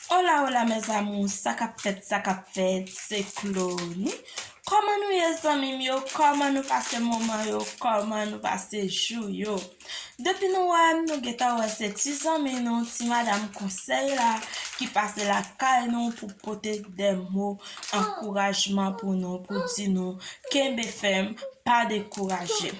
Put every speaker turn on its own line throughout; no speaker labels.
Hola hola mes amours sa kap fèt sa kap fèt se Clauny kòman nou ye zanmim yo kòman nou pase moman yo kòman nou pase jou yo depi nou wèm nou gentan wè se ti zanmi nou ti madam konsèy la ki pase lakay nou pou pote de mo ankourajman pou nou pou di nou kenbe fèm pa dekouraje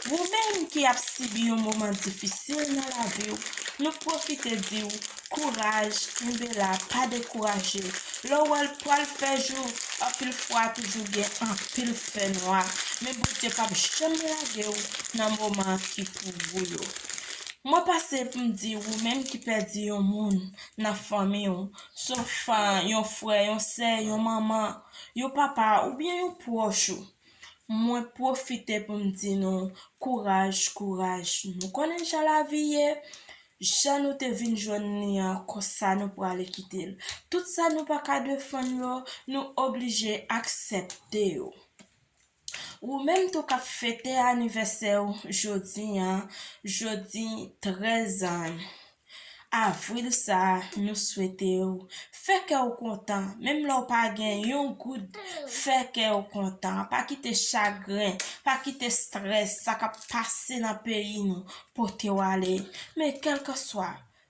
ou menm ki ap sibi yon moman difisil nan laviw nou pwofite diw kouraj kenbe la pa dekouraje lèw wèl pwal fè jou anpil fwa toujou gen anpil fè nwa men Bondye pap janm lagew nan moman ki pou ou yo mwen pase poum di ou menm ki pèdi yon moun nan fanmiw Sof yon frè, yon sè, yon manman, yon papa oubyen yon pwòch ou. Mwen pwofite pou m di nou, kouraj, kouraj. Nou konnen jan lavi ye, jan nou te vin jwenn li an, konsa nou prale kite l. Tout sa nou pa ka defann yo, nou oblije aksepte yo. Ou menm tou kap fete anivèsè ou jodi an, jodi 13 Avril sa nou swete ou fè kè ou kontan menm lè ou pa gen yon goud fè kè ou kontan pa kite chagren pa kite strès sa kap pase nan peyi nou potew ale men kèlkanswa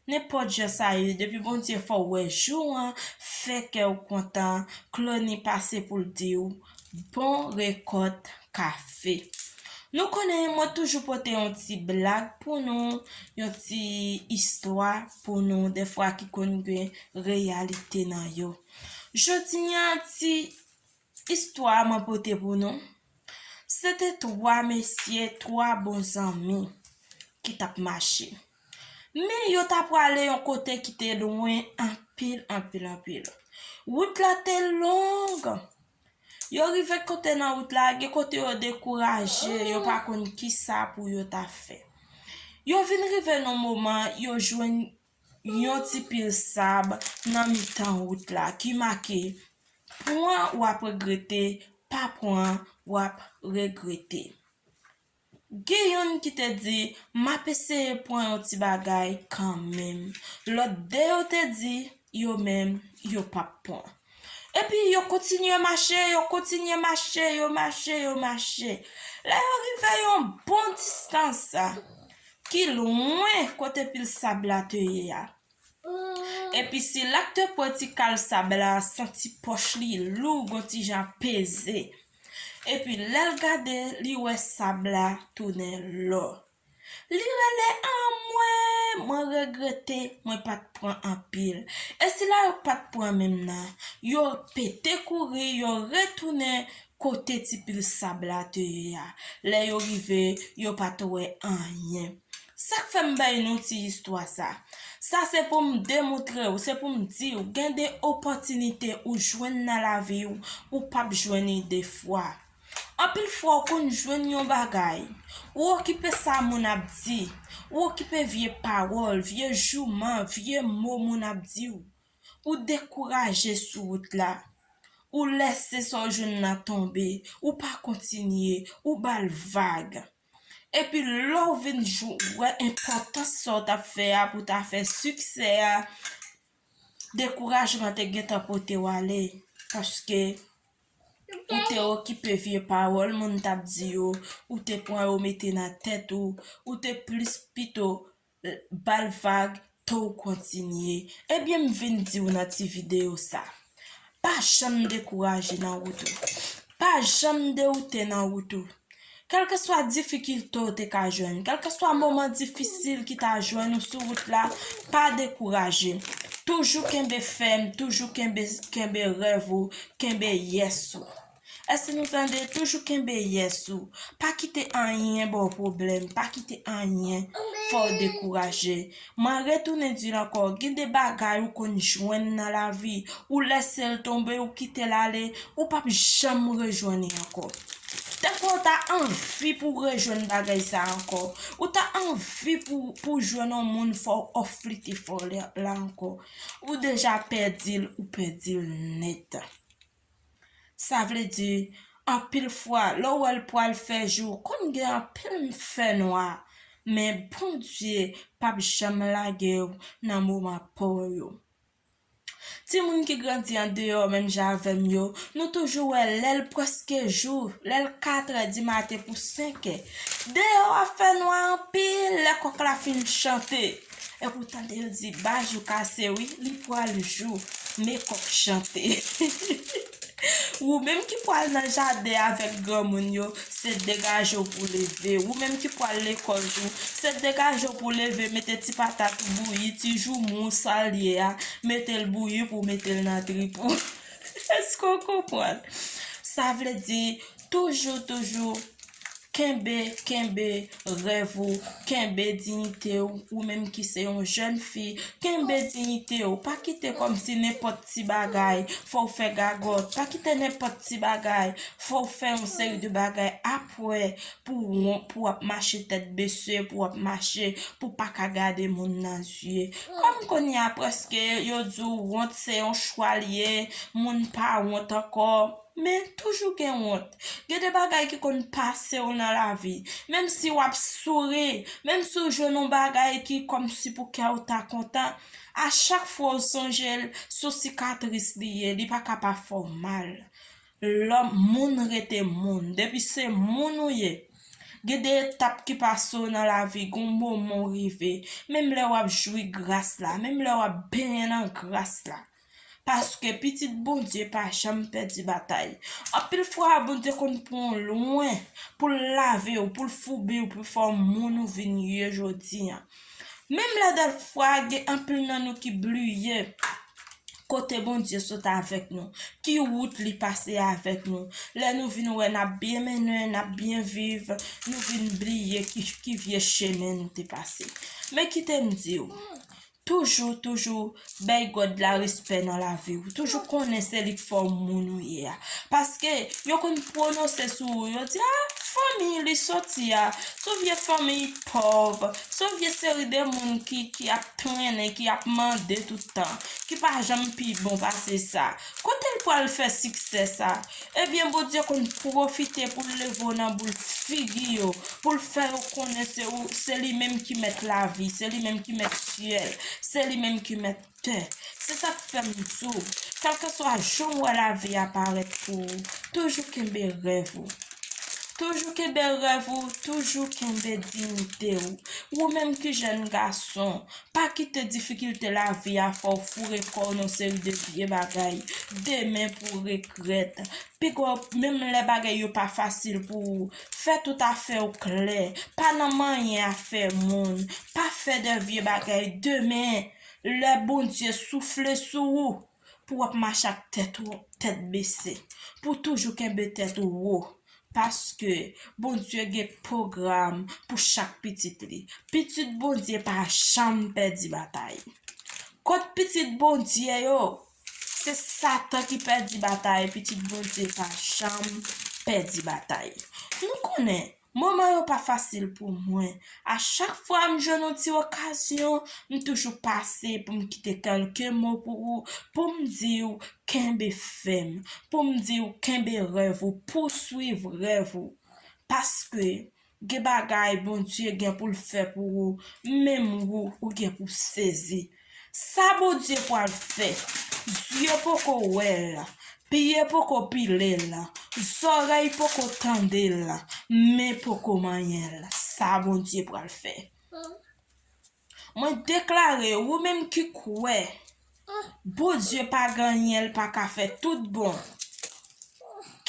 Nenpòt jan sa ye depi Bondye fè w wè jou an fè kè w kontan Clony pase pou l di w bon rekòt kafe Nou konnen mwen toujou pote yon ti blag pou nou yon ti istwa pou nou dèfwa ki konn gen reyalite nan yo Jodi an ti Istwa mwen pote pou nou, se te twa mesye, twa bon zanmi ki t ap mache. Men yo ta prale yon kote ki te lwen anpil, anpil, anpil. Wout la te long. Yo rive kote nan wout la, gen kote yo dekouraje, yo pa konn ki sa pou yo ta fè. Yo vin rive nan moman yo jwenn yon ti pil sab nan mitan wout la ki make pran w ap regrete, pa pran w ap regrete. Gen youn ki te di, M ap eseye pran yon ti bagay kanmenm. Lòt de yo te di, Yo menm, yo pap pran. Epi yo kontinye mache, yo kontinye mache, yo mache, yo mache. Lè yo rive yon bon distans ki lwen kote pil sab la te ye a. Epi se la k te pran ti kal sab la, santi pòch li lou gon ti jan peze. Epi lè l gade, li wè sab la tounen lò. Li rele anmwee mwen regrete mwen pat pran anpil e sila yo k pat pran menm nan yo pete kouri yo retounen kote ti pil sab la te ye a lè yo rive yo pat wè anyen sak fèm bay nou ti istwa sa sa se poum demoutrew se poum diw gen de opòtinite ou jwenn nan laviw ou pap jwenn li de fwa. Anpil fwa ou konn jwenn yon bagay, ou okipe sa moun ap di, ou okipe vye pawòl, vye jouman, vye mo moun ap di ou. Ou dekouraje sou wout la. Ou lèse sa ou jwenn nan tonbe, ou pa kontinye, ou ba l vag. Epi lè ou vin wè enpòtans sa ou t ap fè a pou w ta fè siksè a, dekourajman te gentan pote w ale. Paske. Ou te okipe vye pawòl moun t ap di yo, ou te pran yo mete nan tèt ou, ou te plis pito ba l vag to w kontinye. Ebyen m vin di w nan ti videyo sa, pa janm dekouraje nan wout ou, pa janm dewoute nan wout ou. Kèlkeswa difikilte w te ka jwenn, kèlkeswa moman difisil ki ta jwenn ou sou wout la, pa dekouraje. Toujou kenbe fèm, toujou kenbe kenbe rèv ou, kenbe yes ou. Èske nou tande? Toujou kenbe yes ou. Pa kite anyen ba w pwoblèm, pa kite anyen fè w dekouraje. Mwen retounen dil ankò gen de bagay ou konn jwenn nan lavi ou lèsel tonbe ou kitel ale ou pap janm rejwenn li ankò dèfwa ou ta anvi pou rejwenn bagay sa ankò ou ta anvi pou jwenn yon moun fò òf li te fò la ankò ou deja pèdil ou pèdil nèt. Sa vle di, anpil fwa, lè w wè l pral fè jou, konn gen anpil fènwa. Men, Bondye p ap janm lage w nan moman pa w yo. Timoun ki grandi andeyò menm jan avè m yo, nou toujou wè lè l prèske jou, lè l katrè dimaten pou senkè, deyò a fènwa anpil lè kòk la fin chante. Epou tande yo di bajou kase wi li pwal jou mekòk chante Wou menm ki pwal nan jaden avèk granmoun yo se degaje w pou leve Wou menm ki pwal lekòl tou se degaje w pou leve mete ti patat ou bouyi ti joumou w sal ye a mete l bouyi pou w mete l nan trip ou Èske w konprann sa vle di toujou toujou Kenbe, kenbe rèv ou, kenbe diyite ou, ou menm ki se yon jèn fi, kenbe diyite ou, pa kite kòm si nenpòt ti bagay fè w fè gagòt, pa kite nenpòt ti bagay fè w fè yon seri de bagay apre pou wont, pou w ap mache tèt bese, pou w ap mache pou w pa ka gade moun nan zye. Kòm kounye a prèske yo di w wont se yon chwa l ye, moun pa wont ankò. Men, toujou gen wont. Gen de bagay ki konn pase w nan lavi. Menm si w ap souri, menm si w jwenn yon bagay ki kòmsi pou kè w ta kontan, a chak fwa w sonje l, sou sikatris li ye, li pa ka pa fè w mal. Lòm, moun rete moun. Depi se moun ou ye, gen de etap ki pase w nan lavi, gen yon moman w rive. Menm lè w ap jwi gras la, menm lè w ap benyen nan gras la. Paske pitit Bondye pa janm pèdi batay. Anpil fwa Bondye konn pran w lwen pou l lave w, pou l foubi w, pou l fè w moun ou vin ye jodi an. Menm lè dèfwa gen anpil nan nou ki bliye kote Bondye sot avèk nou, ki wout li pase avèk nou. Lè nou vin wè n ap byen mennen, n ap byen viv, nou vin bliye ki vye chemen nou te pase. Men kite m di w, Toujou toujou bay God la respè nan lavi ou. Toujou konnen se li k fè w moun ou ye a. Paske yo konn pwonose sou ou, yo di a fanmi li soti a, son vye fanmi pòv, son vye seri de moun ki ap trennen, ki ap mande tout tan, ki pa janm pi bon pase sa. Kote l pwal fè siksè sa? Ebyen Bondye konn pwofite pou l leve w nan boul figi yo, pou l fè yo konnen se ou se li menm ki mèt lavi, se li menm ki mèt syèl, se li menm ki mèt tè. Se sa k fè m di w, kèlkeswa jan w wè lavi a parèt pou ou, toujou kenbe rèv ou. Toujou kenbe rèv ou, toujou kenbe diyite ou. Ou menm ki jèn gason, Pa kite difikilte lavi a fè w foure kò w nan seri de vye bagay. Demen pou regrèt. Piga w, menm lè bagay yo pa fasil pou ou, fè tout afè w klè. Pa nan manyen afè moun. Pa fè de vye bagay. Demen, lè Bondye soufle sou ou, pou wap mache ak tèt ou tèt bese pou w toujou kenbe tèt ou wo paske Bondye gen pwogram pou chak pitit li pitit Bondye pa janm pèdi batay kont pitit Bondye yo se satan ki pèdi batay pitit Bondye pa janm pèdi batay nou konnen Moman yo pa fasil pou mwen. A chak fwa m jwenn yon ti okazyon, m toujou pase pou m kite kèlke mo pou ou, pou m di ou kenbe fèm, pou m di ou kenbe rèv ou, pouswiv rèv ou. Paske, gen bagay Bondye gen pou l fè pou ou, menm ou, ou gen pou sezi. Sa Bondye pwal fè, zye poko wè l, pye poko pile l, zòrèy poko tande l, men poko manyen l, sa Bondye pwal fè. Mwen deklare, ou menm ki kwè, Bondye pa ganyen l paka fè tout bon,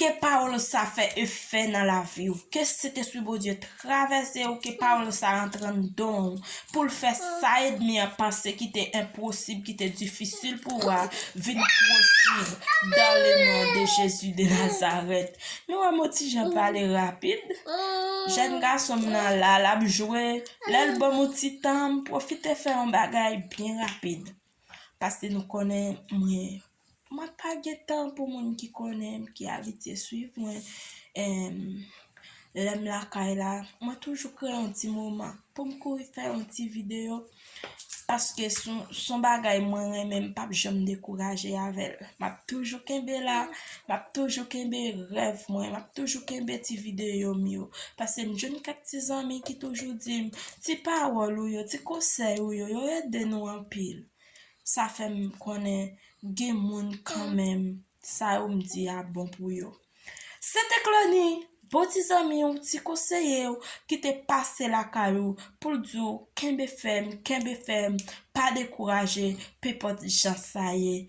Ke pawol sa fè efè nan laviw ke sentespri Bondye travesew ke pawol sa antre andanw poul fè sa edmi an panse ki te enposib ki te difisil pou ou a vin posib dan le non de Jezi de Nazarèt nou wè mwen tijan pale rapid jèn gasonm nan la lap jwe lèl banm yon ti tan m pwofite fè yon bagay byen rapid. Paske nou konnen mwen mwen pa gen tan pou moun ki konnen m ki abitye swiv mwen em lèm lakay la mwen toujou kreye yon ti moman poum kouri fè yon ti video paske son bagay mwen renmen m pap janm dekouraje avèl map toujou kenbe la Map toujou kenbe rèv mwen, map toujou kenbe ti videyo m yo, pase m jwenn kèk ti zanmi ki toujou di m, ti pawòl ou yo, ti konsèy ou yo, yo ede nou anpil. Sa fè m konnen gen moun kanmenm sa yo m di a bon pou yo. Se te Clony, bon ti zanmi w, ti konseye w ki te pase lakay ou pou l di w kenbe fèm, kenbe fèm, pa dekouraje, penpòt jan sa ye.